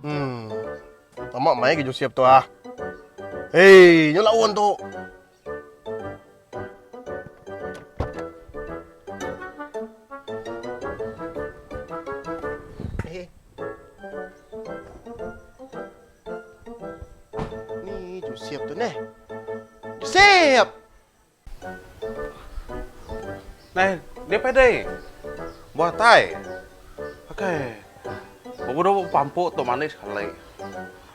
Umm. Lama meh ai Josep tu ah. Hei, nyu laun tu. Ni Josep tu neh. Josep! Dai, deh pai deh. Buah tai. Akai. Bebunuh pampu tu manis kali.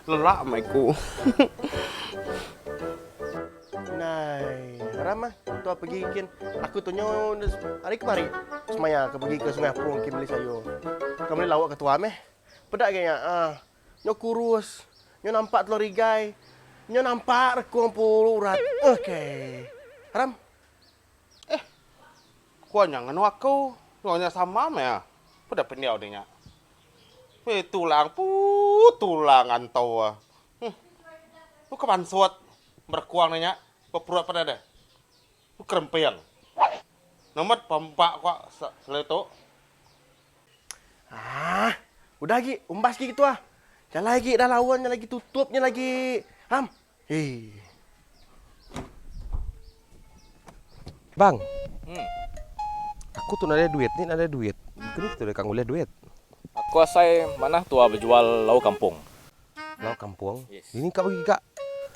Lelak meh ku. Nai, haram ah. Tua pegi kin. Aku tu nyo hari kemari semaya ke pegi ke sungai apung kin beli sayur. Ka meli lauk ke tua meh. Peda agi nya ah. Nyau kurus. Nyau nampak telor igai. Nyau nampak rekung pulu urat. Ok. Ram. Eh. Ku nya ngenu aku. Nyau nya sama meh. Peda pendiau dia nya. Weh tulang puuh tulang anto ah. Huh. Ku ke pansut berekung dia nya. Beperut peda deh. Ku Keremping. Ngemet pa empa ko selai tu. Aah. Udah agi, umbas agi ketua. Jalai agi dah laun nya lagi tutup nya lagi. Ham. Hee. Bang. Hmm. Aku tu nadai duit ni nadai duit. Kenu kita deka ngulih duit. Aku asai manah tua bejual lauk kampung. Enggau kampung. Dini ka bagi ga?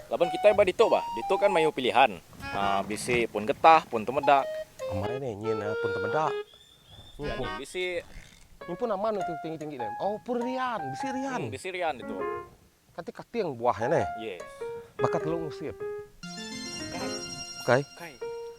Laban kitai ba ditu bah. Ditu kan maioh pilihan. Bisi pun getah, pun temedak. Amai nih nyin pun temedak. Nyin pun. Bisi. Nyin pun aman nih tu tinggi-tinggi nih. Oh pun rian. Bisi rian. Hmm bisi rian ditu. Kati kating buah nya nih. Yes. Baka telung usip. Bukai. Bukai.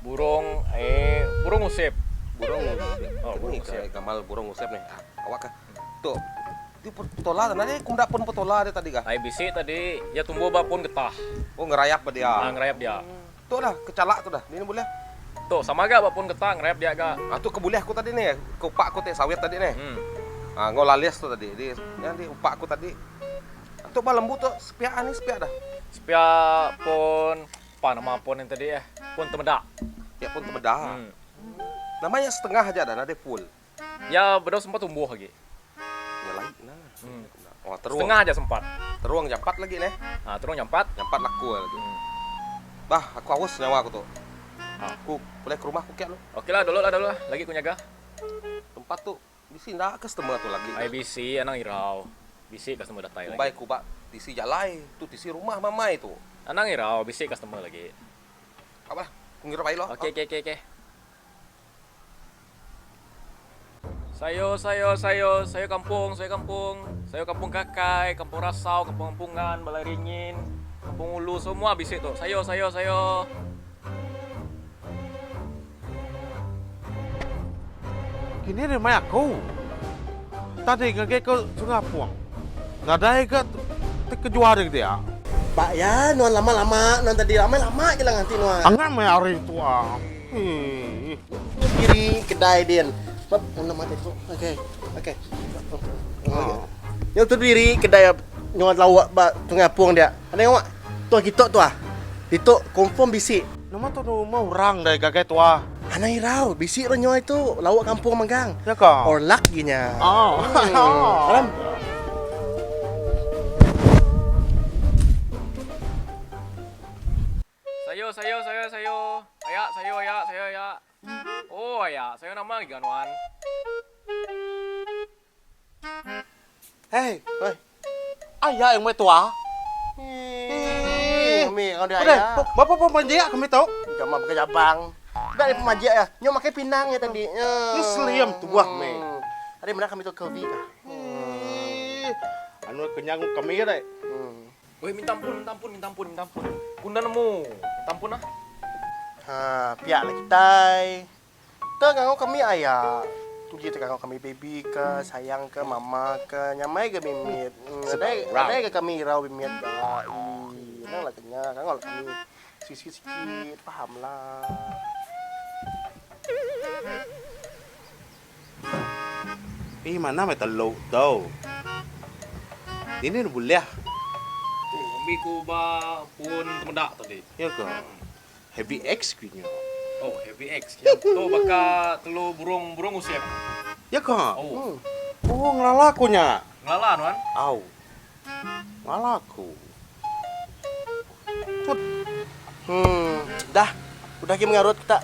Burong e burong usep. Burong usep. Ni ke gamal burong usep ni. Awak ka. Tu. Ti petola tadi ni ku meda pun petola dia tadi ka. Ai bisi tadi iya tumbuh ba pun getah. Oh ngerayap ba dia. Ha ngerayap dia. Tu dah kechala tu dah. Ni bulih. Tu sama ga ba pun getah ngerayap dia ga. Ha tu ke bulih aku tadi ni. Ke upak aku ti sawit tadi ni. Ha enggau lalis tu tadi. Di nya di upak aku tadi. Tu ba lembu tu sepiak ha ni sepiak dah. Sepiak pun. Apa nama pun nya tadi eh? Pun temedak. Nya pun temedak. Hmm. Nama nya setengah aja dah nadai full. Nya bedau sempat tumbuh agi. Nya lain nah. Hmm. Oh, terung. Setengah aja sempat. Terung jampat lagi neh. Ha, terung jampat. Jampat laku lagi. Hmm. Bah, aku awas nyawa aku tu. Ha. Aku boleh ke rumah aku kek lu. Okeylah, dulu lah dulu lah. Lagi aku nyaga. Tempat tu Bisi enda customer tu lagi. Ai bisi anang irau. Bisi customer datai lagi. Umbai ku ba tisi jalai tu tisi rumah mamai tu. Anang irau bisi customer lagi. Ka bah ku ngirup ai lo. Okey okey okey. Sayur sayur sayur sayur kampung sayur kampung sayur kampung kakai kampung rasau kampung ampungan balai ringin kampung ulu semua bisi tu sayur sayur sayur. Kini ri mai aku. Tadi ngagai ke sungai apung. Nadai ga ti kejual ri dia. Ba iya nuan lama lama nuan tadi ramai lama gila nganti nuan. Angat meh ari tu ah. Hii. Ni kiri kedai din. Bab mun nama tadi tu. Okey. Okey. Nyau tu diri kedai nyau lauk ba sungai apung dia. Ada ngau. Tuah kitok tuah. Ditu confirm bisi. Nama tu rumah urang deh gagai tuah. Anang irau, bisi orang nyoi tu lauk kampung manggang. Ya ka. Orlak gi nya. Oh. Aram. Sayur sayur sayur sayur. Ayak sayur ayak sayur ayak. Oh ayak sayur nama lagi ga nuan. Hei. Aya yang meh tua. Ih, umi ngau dia aya. Bapa pun panjik kami tu. Jama baka jabang. Dak ada pemajik ya. Nyau makai pinang ya tadi. Ih, slim tua meh. Ari mena kami tu ke ubi kah. Ih, anu kenyang kami ya deh. Weh, minta ampun, minta ampun, minta ampun, minta ampun. Ku nda nemu. Minta ampun ah. Ha, pia lagi kitai. Te ngangau kami aya. Tu ji te ngangau kami baby ke sayang ke mama ke nyamai ga mimit. Nadai nadai ga kami irau mimit ga. Ii nang la ke nya ngangau la kami sisi sikit paham la. Ih manah meh telu tu. Dini ne bulih. Ambi ku ba pun temeda tadi. Iya ga. Heavy X ke nya. Oh, Heavy X. Nya tu baka telur burung burung usip. Ya ka? Oh. Oh, ngelala ku nya. Ngelala nuan? Au. Ngelala ku. Put. Hmm, dah. Udah lagi mengarut kita.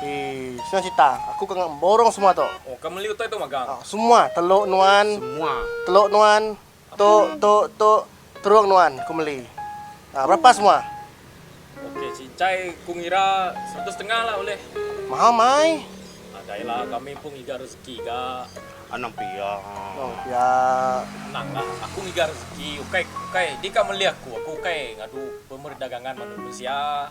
Eh, senang cerita. Aku kena borong semua tu. Oh, ke meli utai tu magang? Ah, semua. Telur nuan. Semua. Telur nuan. Tu, tu, tu, terung nuan ku meli. Aa, berapa semua? Okey, cincai ku ngira seratus setengah lah ulih. Mahal mai. Ah, dai lah, kami pun ngiga rezeki ga. Anang pia. Anang pia. Tenang lah, aku ngiga rezeki, ukai, ukai, dika meli aku, aku ukai ngadu pemerdagangan manusia.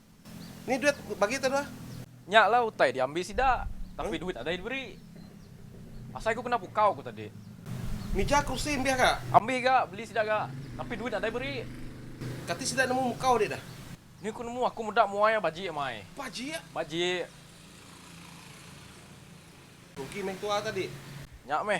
Ni duit ku bagi tau dua. Nya lah utai diambi sida, tapi duit ada diberi. Asai ku kena pukau ku tadi. Mija kursi ambih ga? Ambih ga, beli sida ga, tapi duit ada beri. Kati sida nemu mukau adi dah? Ni ku nemu aku meda muai a bajik amai. Bajik? Bajik. Rugi meh tua tadi. Nya meh.